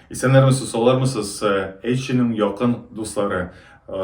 Исәннәрмесез, саулармысыз, HG-ның якын дуслары!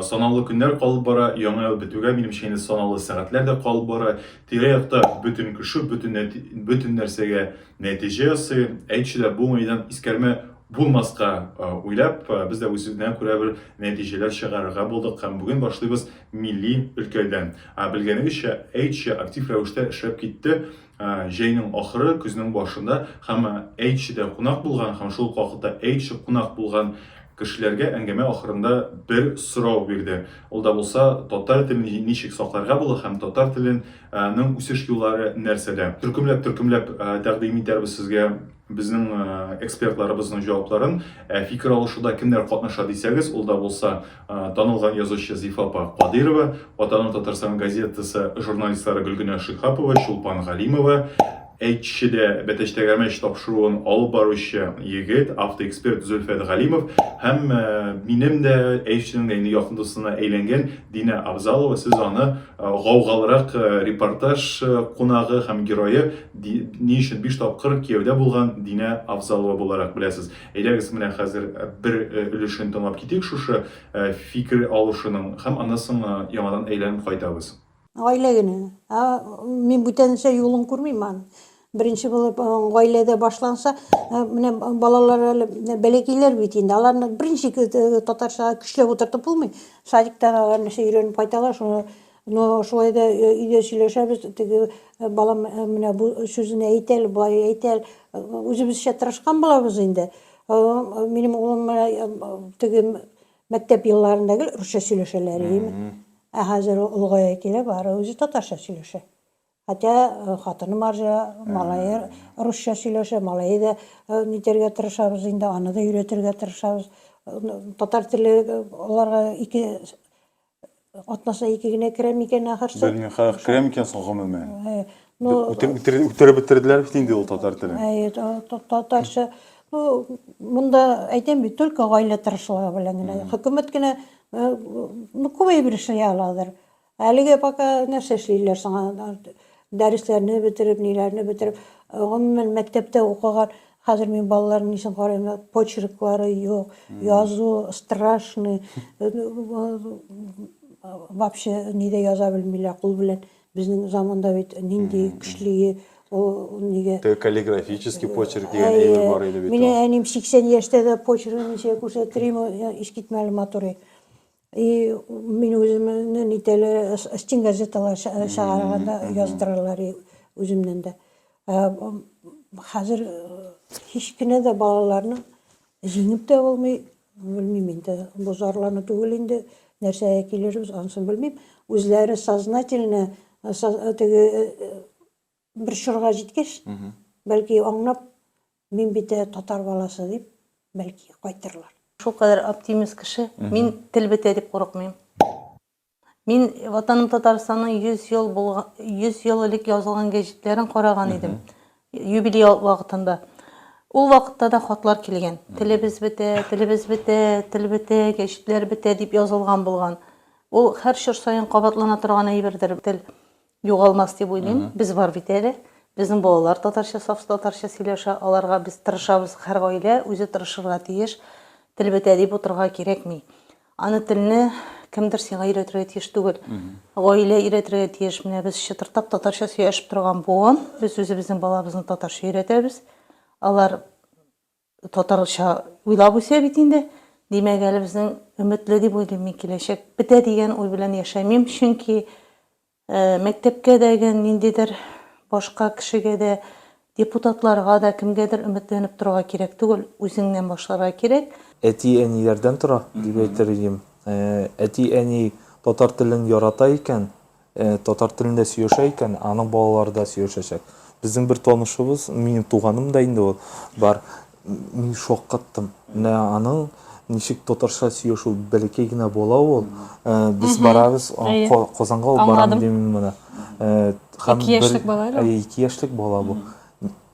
Санаулы көннәр калып бара, яңа ел бетүгә, минемчә инде санаулы сәгатьләр дә калып бара. Тирә-якта бөтен кеше бөтен нәти бөтен нәрсәгә нәтиҗә ясый. HG дә бу уңайдан искәрмә булмаска уйлап, без дә үзенә күрә бер нәтиҗәләр чыгарырга булдык һәм бүген башлыйбыз милли өлкәдән. Белгәнегезчә, HG актив рәвештә эшләп китте Ә, җәйнең ахыры, көзнең башында һәм Әйтчедә кунак булган һәм шул ук вакытта Әйтче кунак булган кешеләргә әңгәмә ахырында бер сорау бирде. Ул да булса, татар телен ничек сакларга була һәм татар телен ның үсеш юллары нәрсәдә? Төркемләп-төркемләп тәкъдим итәрбез сезгә. Безнең экспертларыбызның җавапларын фикер алышуда кемнәр катнаша дисәгез, ул да булса танылган язучы Зифа апа Кадыйрова, Ватаным Татарстан газетасы журналистлары Гөлгенә Шихапова, Чулпан Галимова, әйтчедә Бәтәч Тәгәрмәч тапшыруын алып баручы егет, автоэксперт Зөлфәт Галимов һәм минем дә әйтчедән дә инде якын дустына әйләнгән Динә Абзалова. Сез аны гаугалырак репортаж кунагы һәм герое Ди, ни өчен биш тапкыр кияүдә булган Динә Авзалова буларак беләсез? Әйдәгез, менә хәзер бер өлешен тыңлап китик шушы фикер алышуның һәм аннан соң яңадан әйләнеп кайтабыз. Гаилә көне. Ә, мин бүтәнчә юлын күрмим аны. Беренче булып гаиләдә башланса, менә балалар әле бәләкәйләр бит инде. Аларны беренче татарча көчләп утыртып булмый. Садиктан алар нәрсә өйрәнеп кайталар, шуны Но шулай да өйдә сөйләшәбез, теге балам менә бу сүзен әйтә әле, болай әйтә әле. Үзебезчә тырышкан булабыз инде. Минем улым менә теге мәктәп елларында гел русча сөйләшәләр иде. Ә хәзер ул олыгая килә, бары үзе татарча сөйләшә. Хотя хатыны марҗа, малае русча сөйләшә, малае да нитәргә тырышабыз инде, аны да өйрәтергә тырышабыз. Татар теле аларга ике атнасына ике генә керә микән ахырсы? Белмим, хәзер керә микән соң гомумән? Үтереп бетерделәр бит инде ул татар телен. Әйе, татарча. Ну, монда әйтәм бит, только гаилә тырышлыгы белән генә. Хөкүмәт кенә, ну, күбәеп эшли аладыр. Әлегә пока нәрсә эшлиләр соң алар? Дәресләрне бетереп, ниләрне бетереп, гомумән мәктәптә укыган, хәзер мин балаларның ничек карыйм, почерклары юк, язу страшный. Вообще нидә яза белмиләр, кул белән. Безнең заманда бит нинди көчле ул нигә? Каллиграфический почерк дигән әйбер бар иде бит. Мин әним 80 яшьтә дә почеркны ничек күрсәтерим, искитмәле матур. И мин үземне нитәле стен газеталар чыгарганда яздыралар и үземнән дә. Хәзер һич кенә дә балаларны җиңеп тә булмый, белмим инде. Бу зарлану түгел инде, нәрсәгә килербез, ансын белмим. Үзләре сознательно теге Бер чорга җиткәч, бәлки аңлап, мин бит ә татар баласы дип, бәлки кайтырлар. Шул кадәр оптимист кеше, мин тел бетә дип курыкмыйм. Мин Ватаным Татарстанның 100 ел булган, 100 ел элек язылган гәҗитләрен караган идем, юбилей вакытында. Ул вакытта да хатлар килгән. Телебез бетә, телебез бетә, тел бетә, гәҗитләр бетә дип язылган булган. Ул һәр чор саен кабатлана торган әйбердер тел. Югалмас дип уйлыйм. Без бар бит әле. Безнең балалар татарча, саф татарча сөйләшә. Аларга без тырышабыз. Һәр гаилә үзе тырышырга тиеш. Тел бетә дип утырырга кирәкми. Аны телне кемдер сиңа өйрәтергә тиеш түгел. Гаилә өйрәтергә тиеш. Менә без чытырдап татарча сөйләшеп торган буын. Без үзебезнең балабызны татарча өйрәтәбез. Алар Татарча уйлап үсә бит инде. Димәк, әле безнең өметле дип уйлыйм мин киләчәк. Бетә дигән уй белән яшәмим, чөнки мәктәпкә дә гә, ниндидер башка кешегә дә, депутатларга да, кемгәдер өметләнеп торырга кирәк түгел, үзеңнән башларга кирәк. Әти-әниләрдән тора, дип әйтер идем. Әти-әни татар телен ярата икән, Татар телендә сөйләшә икән, аның балалары да сөйләшәчәк. Безнең бер танышыбыз, минем туганым да инде ул, бар. Мин шаккаттым. Менә аның ничек татарча сөйләшү, бәләкәй генә бала ул. Без барабыз, Казанга алып барам, дим мин моны. Ике яшьлек бала әле ул. Ике яшьлек бала бу.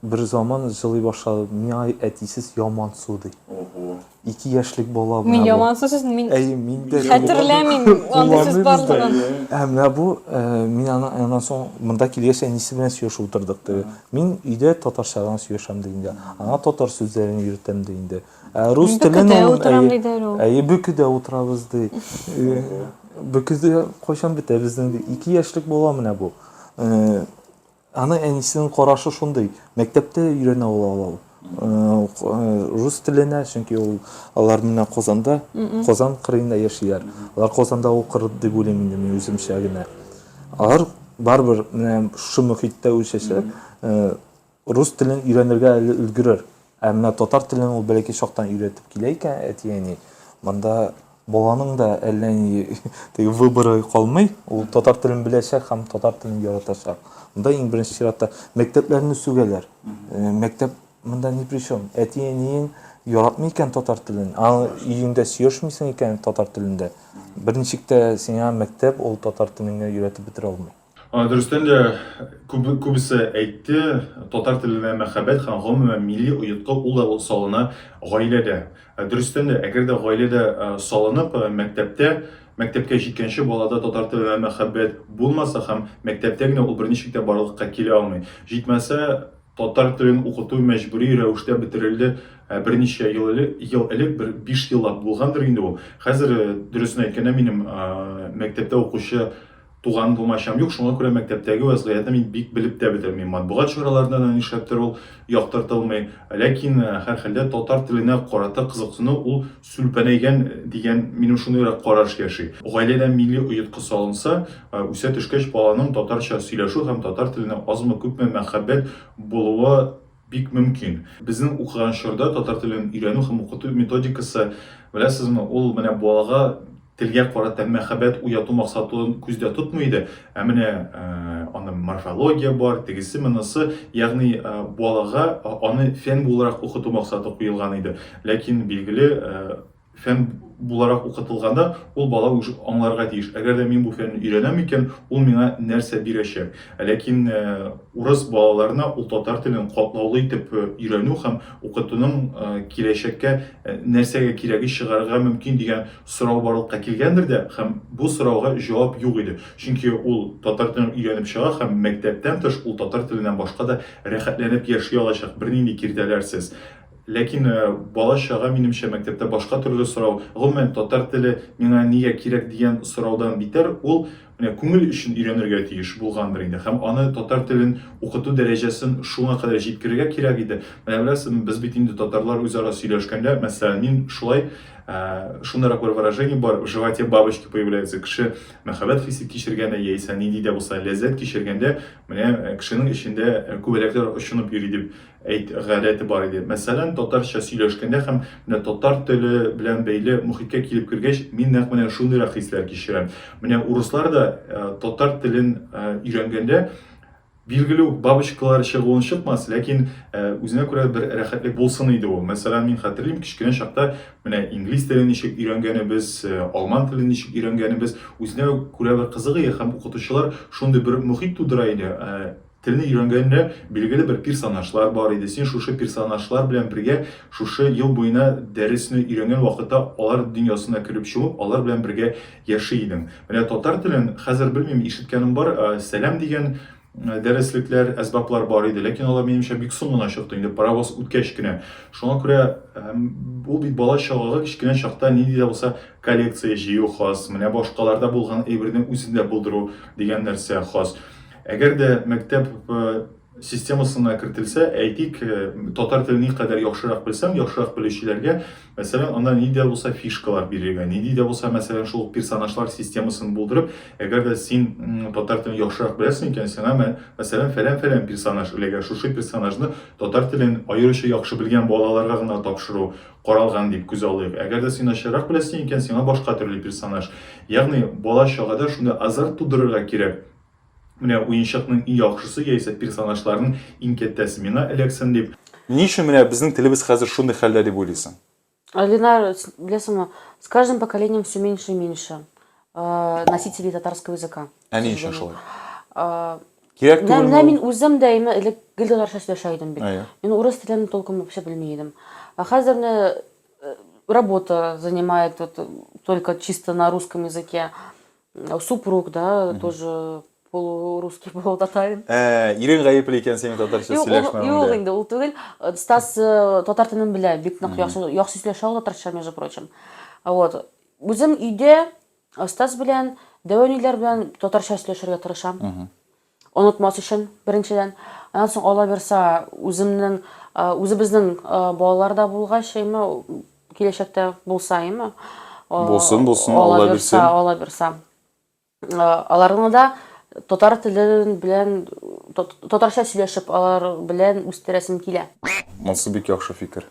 Берзаман җылый башлады. Миңа әтисез яман су, ди. Ого. Ике яшьлек бала менә бу. Мин яман су сүзен мин Әйе, мин дә хәтерләмим андый сүз барлыгын. Ә менә бу, мин аннан соң монда килгәч әнисе белән сөйләшеп утырдык, ди. Мин өйдә татарча гына сөйләшәм, ди инде. Аңа татар сүзләрен өйрәтәм, ди инде. Ә рус телен ул, әйе, бөкедә утырабыз, ди. Бөкедә кайчан бетә безнең, ди. Ике яшьлек бала менә бу. Аны әнисенең карашы шундый. Мәктәптә өйрәнә ул алау. Рус теленә, чөнки ул алар менә Казанда, Казан кырыенда яшиләр. Алар Казанда укыр дип уйлыйм инде мин үземчә генә. Алар барыбер менә шушы мөхиттә үсәчәк, рус телен өйрәнергә әле өлгерер. Ә менә татар телен ул бәләкәй чактан өйрәтеп килә икән әти-әни. Монда баланың да әллә ни теге выборы калмый. Ул татар телен беләчәк һәм татар телен яратачак. Монда иң беренче чиратта мәктәпләрне сүгәләр. Э, мәктәп монда ни при чем? Әти-әниең яратмый икән татар телен, аны өеңдә сөйләшмисең икән татар телендә, берничек тә сиңа мәктәп ул татар телеңә өйрәтеп бетерә алмый. А, дөрестән дә күп, күбесе әйтте, татар теленә мәхәббәт һәм гомумән милли оятка ул да салына гаиләдә. Ә, дөрестән дә, әгәр дә гаиләдә а, салынып, а, мәктәптә, мәктәпкә җиткәнче балада татар теленә мәхәббәт булмаса һәм мәктәптә генә ул берничек тә барлыкка килә алмый. Җитмәсә, татар телен укыту мәҗбүри рәвештә бетерелде ә, берничә ел элек, ел элек, бер биш еллап булгандыр инде ул. Хәзер, дөресен әйткәндә, минем а, мәктәптә укучы Туган комачам юк, шуңа күрә мәктәптәге вәзгыятьне мин бик белеп тә бетермим. Матбугат чараларында да нишләптер ул яктыртылмый. Ләкин, һәрхәлдә, татар теленә карата кызыксыну ул сүлпәнәйгән дигән, минем шундыйрак караш яши. Гаиләдә милли оеткы салынса, үсә төшкәч баланың татарча сөйләшү һәм татар теленә азмы-күпме мәхәббәт булуы Бик мөмкин. Безнең укыган чорда татар телен өйрәнү һәм укыту методикасы, беләсезме, ул менә балага телгә карата мәхәббәт уяту максатын күздә тотмый иде, ә менә аны морфология бар, тегесе, монысы, ягъни балага аны фән буларак укыту максаты куелган иде. Ләкин, билгеле, фән буларак укытылганда, ул бала уже аңларга тиеш. Әгәр дә мин бу фәнне өйрәнәм икән, ул миңа нәрсә бирәчәк? Ләкин э, урыс балаларына ул татар телен катлаулы итеп э, өйрәнү һәм укытуның э, киләчәккә нәрсәгә кирәге чыгарырга мөмкин дигән сорау барлыкка килгәндер дә һәм бу сорауга җавап юк иде. Чөнки ул татар телен өйрәнеп чыга һәм мәктәптән тыш ул татар теленнән башка да рәхәтләнеп яши алачак, бернинди киртәләрсез. Ләкин бала чага, минемчә, мәктәптә башка төрле сорау. Гомумән, татар теле миңа нигә кирәк дигән сораудан битәр, ул менә күңел өчен өйрәнергә тиеш булгандыр инде. Һәм аны татар телен укыту дәрәҗәсен шуңа кадәр җиткерергә кирәк иде. Менә беләсезме, без бит инде татарлар үзара сөйләшкәндә, мәсәлән, мин шулай шундыйрак бер выражение бар, в животе бабочки появляются. Кеше мәхәббәт хисе кичергәндә яисә нинди дә булса ләззәт кичергәндә, менә кешенең эчендә күбәләкләр очынып йөри дип әйт, гадәте бар иде. Мәсәлән, татарча сөйләшкәндә һәм менә татар теле белән бәйле мохиткә килеп кергәч, мин нәкъ менә шундыйрак хисләр кичерәм. Менә урыслар да э, татар телен э, өйрәнгәндә билгеле үк бабочкалар чыгуын чыкмас, ләкин э, үзенә күрә бер рәхәтлек булсын иде ул. Мәсәлән, мин хәтерлим, кечкенә чакта менә инглиз телен ничек өйрәнгәнебез, э, алман телен ничек өйрәнгәнебез, үзенә күрә бер кызыгы һәм укытучылар шундый бер мөхит тудыра иде. Э, Телне өйрәнгәндә билгеле бер персонажлар бар иде, син шушы персонажлар белән бергә шушы ел буена дәресне өйрәнгән вакытта алар дөньясына кереп чумып, алар белән бергә яши идең. Менә татар телен хәзер белмим, ишеткәнем бар, сәлам дигән дәреслекләр, әсбаплар бар иде, ләкин алар минемчә бик соң гына чыкты, инде паровоз үткәч кенә. Шуңа күрә ул бит бала чагага кечкенә чакта нинди дә булса коллекция җыю хас, менә башкаларда булган әйберне үзендә булдыру дигән нәрсә хас. Әгәр дә мәктәп системасына кертелсә, әйтик, татар телен никадәр яхшырак белсәң, яхшырак белүчеләргә, мәсәлән, анда ни дә булса фишкалар бирергә, ни дә булса, мәсәлән, шул персонажлар системасын булдырып, әгәр дә син татар телен яхшырак беләсең икән, сиңа, мәсәлән, фәлән-фәлән персонаж эләгә, шушы персонажны татар телен аеруча яхшы белгән балаларга гына тапшыру каралган дип күз алыйк. Әгәр дә син начаррак беләсең икән, сиңа башка төрле персонаж. Ягъни бала чагада шундый азарт тудырырга кирәк. Менә уенчыкның иң яхшысы яисә персонажларның иң кәттәсе миңа эләксен дип. Ни өчен менә безнең телебез хәзер шундый хәлдә дип уйлыйсың? Ленар, беләсеңме, с каждым поколением все меньше и меньше носителей татарского языка. Ә ни өчен шулай? Кирәк түгел. Менә мин үзем дә инде элек гел татарча сөйләшә идем бит. Мин урыс телен толком вообще белми идем. Ә хәзер менә работа занимает вот только чисто на русском языке. Э, супруг, да, Мгм. тоже полурусский, полутатарин. Ә, ирең гаепле икән синең татарча Юк, ул- юк сөйләшмәвеңдә. инде, ул түгел. Э, Стас э, татар телен белә, бик нык яхшы яхшы сөйләшә ул татарча, между прочим. А Вот. Үзем өйдә э, Стас белән, Дәвәниләр белән татарча сөйләшергә тырышам. Онытмас өчен, беренчедән. Аннан соң, Аллабирса, үземнең, үзебезнең балалар да булгач, әйме, киләчәктә булса, әйме. Булсын, булсын, Аллабирса. Аллабирса, Аллабирса. Аларны да татар теле белән, татарча сөйләшеп, алар белән үстерәсем килә. Монсы бик яхшы фикер.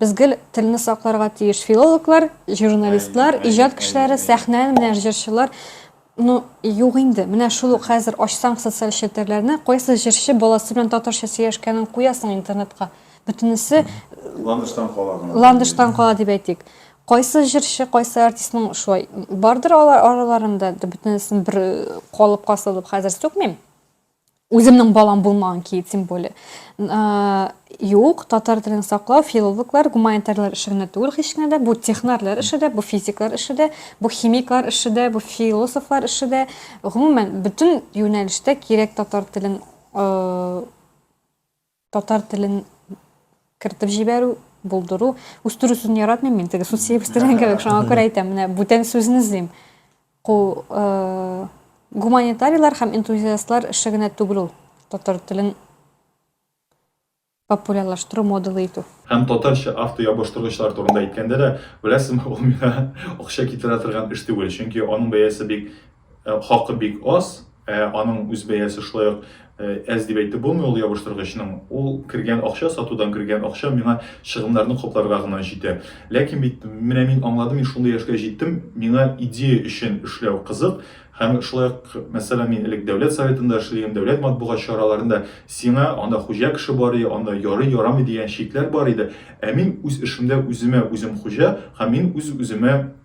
Без гел телне сакларга тиеш. Филологлар, журналистлар, иҗат кешеләре, сәхнә, менә җырчылар. Ну, юк инде. Менә шул ук хәзер ачсаң социаль челтәрләрне, кайсы җырчы баласы белән татарча сөйләшкәнен куясың интернетка. Бөтенесе Ландыштан кала гына. Ландыштан кала дип әйтик. Кайсы җырчы, кайсы артистның шулай бардыр алар араларында, бөтенесен бер калыпка салып хәзер сүкмим. Үземнең балам булмаган ки, тем более. Ә, юк, татар телен саклау, филологлар, гуманитарлар эше генә түгел һич кенә дә. Бу технарлар эше дә, бу физиклар эше дә, бу химиклар эше дә, бу философлар эше дә. Гомумән, бөтен юнәлештә кирәк татар телен э, Татар телен кертеп җибәрү, булдыру. Үстерү сүзен яратмыйм мин, теге сүз үстерән кебек, шуңа күрә әйтәм, менә бүтән сүзне эзлим. Ку э, гуманитарийлар һәм энтузиастлар эше генә түгел ул. Татар телен популярлаштыру, модалы итү. Һәм татарча автоябыштыргычлар турында әйткәндә дә, беләсезме, ул миңа акча китерә торган эш түгел, чөнки аның бәясе бик хакы бик аз, ә аның үз бәясе шулай ук әз дип әйтеп булмый ул ябыштыргычның. Ул кергән акча, сатудан кергән акча миңа чыгымнарны капларга гына җитә. Ләкин бит менә мин аңладым, мин шундый яшькә җиттем, миңа идея өчен эшләү кызык. Һәм шулай ук, мәсәлән, мин элек дәүләт советында эшлим, дәүләт матбугат чараларында сиңа анда хуҗа кеше бар иде, анда ярый ярамый дигән чикләр бар иде. Ә мин үз эшемдә үземә үзем хуҗа һәм мин үз-үземә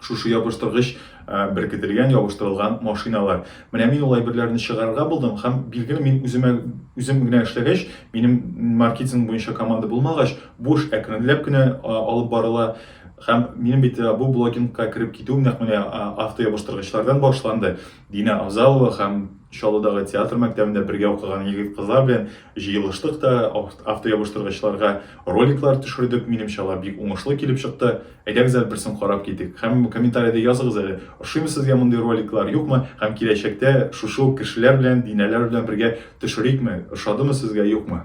Шушы ябыштыргыч беркетелгән, ябыштырылган машиналар. Менә мин ул әйберләрне чыгарырга булдым һәм билгеле мин үземә үзем генә эшләгәч, минем маркетинг буенча команда булмагач, бу эш әкренләп кенә алып барыла. Һәм минем бит бу блогингка кереп китүем нәкъ менә автоябыштыргычлардан башланды. Динә Авзалова һәм Чаллыдагы театр мәктәбендә бергә укыган егет-кызлар белән җыелыштык та, автоябыштыргычларга роликлар төшердек. Минемчә, алар бик уңышлы килеп чыкты. Әйдәгез әле берсен карап китик. Һәм комментариядә языгыз әле, ошыймы сезгә мондый роликлар, юкмы? Һәм киләчәктә шушы ук кешеләр белән, Динәләр белән бергә төшерикме? Ошадымы сезгә, юкмы?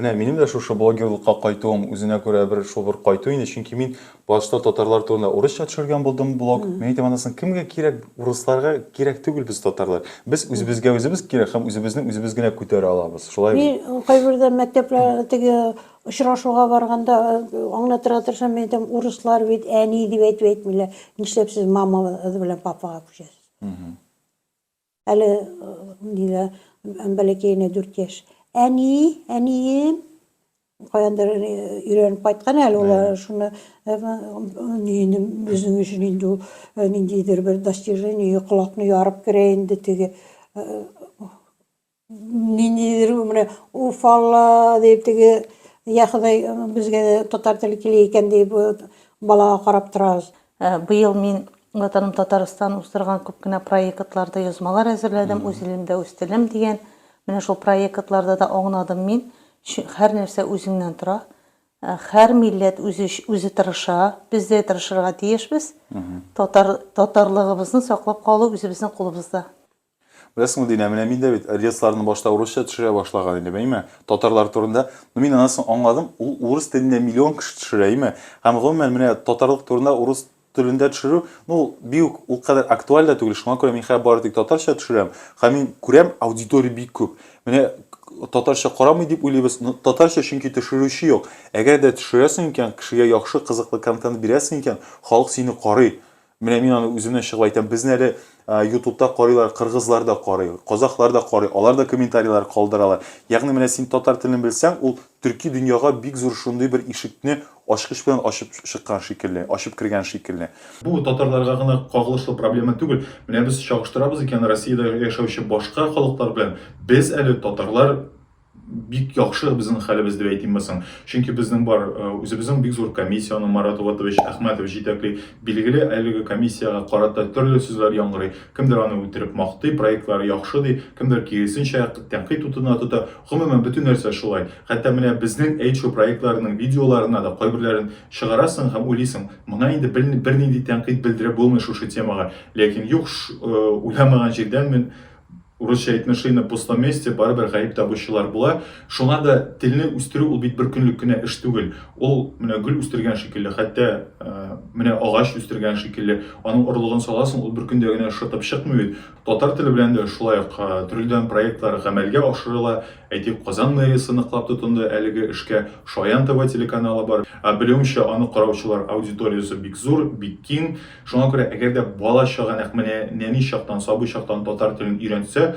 Менә минем дә шушы блогерлыкка кайтуым үзенә күрә бер шул бер кайту инде, чөнки мин башта татарлар турында урысча төшергән булдым блог. Мин әйтәм, анысын кемгә кирәк, урысларга кирәк түгел без татарлар. Без үзебезгә үзебез кирәк һәм үзебезне үзебез генә күтәрә алабыз. Шулай бит? Мин кайбердә мәктәпләр теге очрашуга барганда аңлатырга тырышам, мин әйтәм, урыслар бит әни дип әйтеп әйтмиләр, нишләп сез мама белән папага күчәсез? Әле нилә бәләкәенә 4 яшь. Әни, әнием каяндыр өйрәнеп кайткан әле ул шуны инде безнең өчен инде ул ниндидер бер достижение колакны ярып керә инде теге Ниндидер менә уфалла дип теге я Ходай безгә татар теле кили икән дип балага карап торабыз. Быел мин Ватаным Татарстан уздырган күп кенә проектларда язмалар әзерләдем, үз илемдә үз телем дигән. Менә шул проектларда да аңнадым мин. Һәр нәрсә үзеңнән тора. Һәр милләт үзе үзе тырыша. Без дә тырышырга тиешбез. Татар татарлыгыбызны саклап калу үзебезнең кулыбызда. Беләсеңме, Динә, менә мин дә бит релсларны башта урысча төшерә башлаган идем, әйме, татарлар турында, но мин аннан соң аңладым, ул урыс телендә миллион кеше төшерә, әйме, һәм гомумән менә татарлык турында урыс телендә төшерү, ну ул бик үк ул кадәр актуаль да түгел, шуңа күрә мин хәзер бары тик татарча төшерәм, һәм мин күрәм, аудитория бик күп. Менә татарча карамый дип уйлыйбыз, но татарча чөнки төшерүче юк. Әгәр дә төшерәсең икән, кешегә яхшы, кызыклы контент бирәсең икән, халык сине карый. Менә мин аны үземнән чыгып әйтәм, безне әле ютубта карыйлар, кыргызлар да карый, казахлар да карый, алар да комментарийлар калдыралар. Ягъни менә син татар телен белсәң, ул төрки дөньяга бик зур шундый бер ишекне ачкыч белән ачып чыккан шикелле, ачып кергән шикелле. Бу татарларга гына кагылышлы проблема түгел. Менә без чагыштырабыз икән Россиядә яшәүче башка халыклар белән, без әле татарлар, бик яхшы безнең хәлебез дип әйтимме соң? Чөнки безнең бар, э, үзебезнең бик зур комиссия, аны Марат Улатович Әхмәтов җитәкли. Билгеле, әлеге комиссиягә карата төрле сүзләр яңгырый. Кемдер аны үтереп мактый, проектлары яхшы ди, кемдер киресенчә тәнкыйть утына тота. Гомумән, бөтен нәрсә шулай. Хәтта менә безнең әйтшо проектларының видеоларына да кайберләрен чыгарасың һәм уйлыйсың, моңа инде бернинди тәнкыйть белдереп булмый шушы темага. Ләкин юк, э, уйламаган җирдән мин Урысча әйтмә ши на пустом месте, барыбер гаеп табучылар була. Шуңа да телне үстерү ул бит бер көнлек кенә эш түгел. Ул менә гөл үстергән шикелле, хәтта менә агач үстергән шикелле, аның орлыгын саласың, ул бер көндә генә шытып чыкмый бит. Татар теле белән дә шулай ук төрледән проектлар гамәлгә ашырыла. Әйтик, Казан мэриясе ныклап тотынды әлеге эшкә, Шаян ТВ телеканалы бар. Белүемчә, аны караучылар аудиториясе бик зур, бик киң. Шуңа күрә, әгәр дә бала чага нәкъ менә нәни чактан, сабый чактан татар телен өйрәнсә,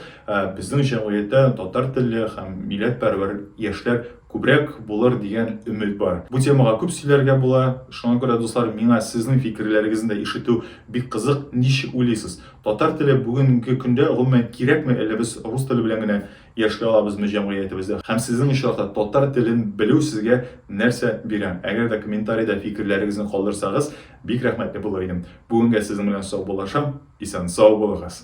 безнең җәмгыятьтә татар телле һәм милләтпәрвәр яшьләр күбрәк булыр дигән өмет бар. Бу темага күп сөйләргә була. Шуңа күрә, дуслар, миңа сезнең фикерләрегезне дә ишетү бик кызык. Ничек уйлыйсыз, татар теле бүгенге көндә гомумән кирәкме, әллә без рус теле белән генә яши алабызмы җәмгыятебездә? Һәм сезнең очракта татар телен белү сезгә нәрсә бирә? Әгәр дә комментарида фикерләрегезне калдырсагыз, Бик рәхмәтле булыр идем. Бүгенгә сезнең белән саубуллашам. Исән-сау булыгыз!